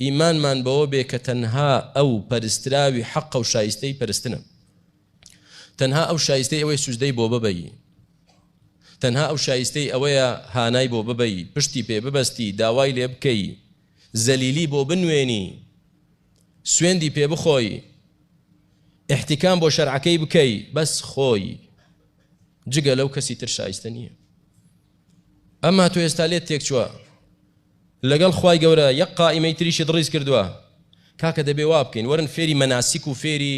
ئیمانمان بەوە بێ کە تەنها ئەو پەرستراوی حەقە و شایستەی پەرستنە، تەنها ئەو شایستەی ئەوەیە سوجدەی بۆ ببەی، تەنها ئەو شایستەی ئەوەیە هانای بۆ ببەی، پشتی پێ ببەستی، داوای لێ بکەی، زەلیلی بۆ بنوێنی، سوێندی پێ بخۆی، ئیحتیکام بۆ شەرعەکەی بکەی، بەس خۆی، جگە لەو کەسی تر شایستە نییە. ئەما تۆ ئێستا لێت تێکچووە. لەگەڵ خوای گەورە یەک قائیمەی تریشت ڕیز کردوە کاکە دەبێ وابکەین وەرن فێری مەناسیک و فێری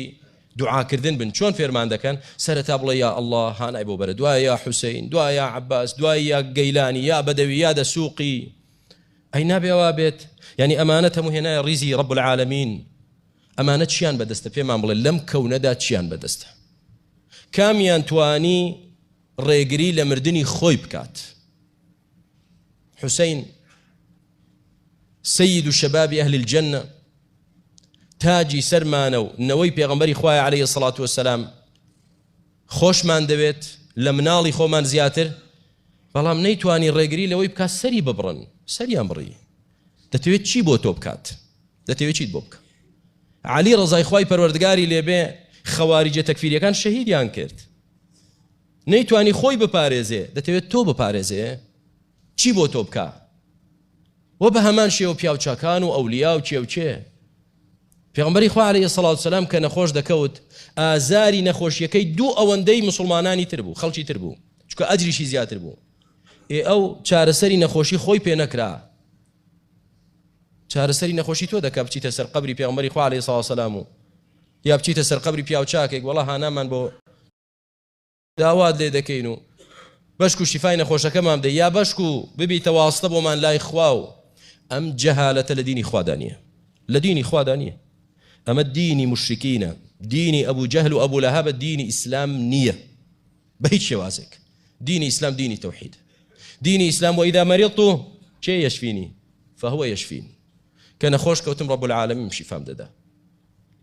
دوعا کردن بن چۆن فێرمان دەکەن سەرەتا بڵێ یا اللە هانای بۆ بەرە دوایە یا حوسەین دوایە یا عەباس دوای یا گەیلانی یا بەدەوی یا دەسوقی ئەی نابێ ئەوا بێت یعنی ئەمانە تەمو هێنایە ڕیزی ڕب العالمین ئەمانە چیان بەدەستە پێمان بڵێ لەم کەونەدا چیان بەدەستە کامیان توانی ڕێگری لە مردنی خۆی بکات حسین سید شباب اهل الجنە تاجی سەرمانە و نەوەی پێغمبەری خوای عليه سڵات وسلام خۆشمان دەوێت لە مناڵی خۆمان زیاتر بەڵام نەیتوانی ڕێگری لەوەی بکات سەری ببڕن سەریان بڕی دەتەوێت چی بۆ تۆ بکات دەتەوێت چیت بۆ بکە علی ڕزای خی پەروەردگاری لێبێ خەواریجە تەکفیریەکان شەهیدیان کرد نەیتوانی خۆی بپارێزێ دەتەوێ تۆ بپارێزێ چی بۆ تۆ بکا وە بە هەمان شێوە پیاو چاکان و ئەولیا و کێ و کێ پێغمبەری خوا عليه سەڵاو سلام کە نەخۆش دەکەوت ئازاری نەخۆشیەکەی دوو ئەوەندەی مسلمانانی تر بوو خەڵکی تر بوو چکە ئەجریشی زیاتر بوو ئێ ئەو چارەسەری نەخۆشی خۆی پێ نەکرا چارەسەری نەخۆشی تۆ دەکە بچیتە سەر قبری پێغمبەری خوا عليه سەڵاو سلام و یا بچیتە سەر قبری پیاو چاکێک وڵا هانامان بۆ داوات لێ دەکەین و بەشک و شیفای نەخۆشەکەمان بدەی یا بەشک و ببیتە واستە بۆمان لای خوا و ئەم جەهالەتە لە دینی خوادا نییە لە دینی خوادا نییە ئەمە دینی مشرکینە دینی ئەبوو جەهل و ئەبوو لەها بە دینی ئیسلام نییە بە هیچ شێوازێک دینی ئیسلام دینی تەوحید دینی ئیسلام و ئیدا مەریڵ و کێ یەشفینی فهوە یەشفین کە نەخۆش کەوتم ڕەب العالمیم شیفام دەدا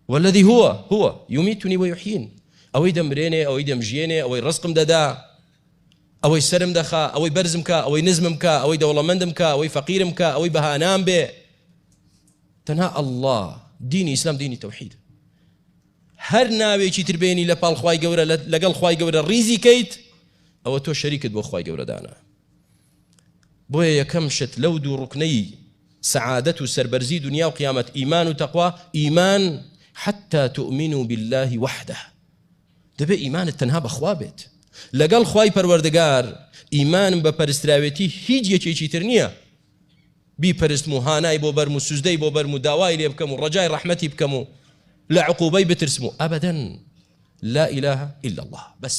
والذی هو هو یمیتنی ویحیین ئەوەی دەمرێنێ ئەوەی دەمژیێنێ ئەوەی ڕزقم دەدا ئەوەی سەرم دەخا ئەوەی بەرزم کا ئەوەی نزمم کا ئەوەی دەوڵەمەندم کا ئەوەی فەقیرم کا ئەوەی بەهانام بێ تەنها ئەلله دینی ئیسلام دینی تەوحید هەر ناوێکی تر بێنی لە پاڵ خوای گەورە لەگەڵ خوای گەورە ڕیزی کەیت ئەوە تۆ شەریکت بۆ خوای گەورەدانە بۆیە یەکەم شت لەو دوو ڕوکنەی سەعادەت و سەربەرزی دنیا و قیامەت ئیمان و تەقوا ئیمان حتى تؤمنوا بالله وحده دەبێ ئیمانت تەنها بەخوا بێت لەگەڵ خوای پەروەردگار ئیمانم بە پەرستراوێتی هیچ یەکێکی تر نییە بیپەرستم و هانای بۆ بەرم و سوزدەی بۆ بەرم و داوای لێ بکەم و ڕجای ڕەحمەتی بکەم و لە عقوبەی بترسم و ئەبدەن لا ئیلاها إلا الله بەس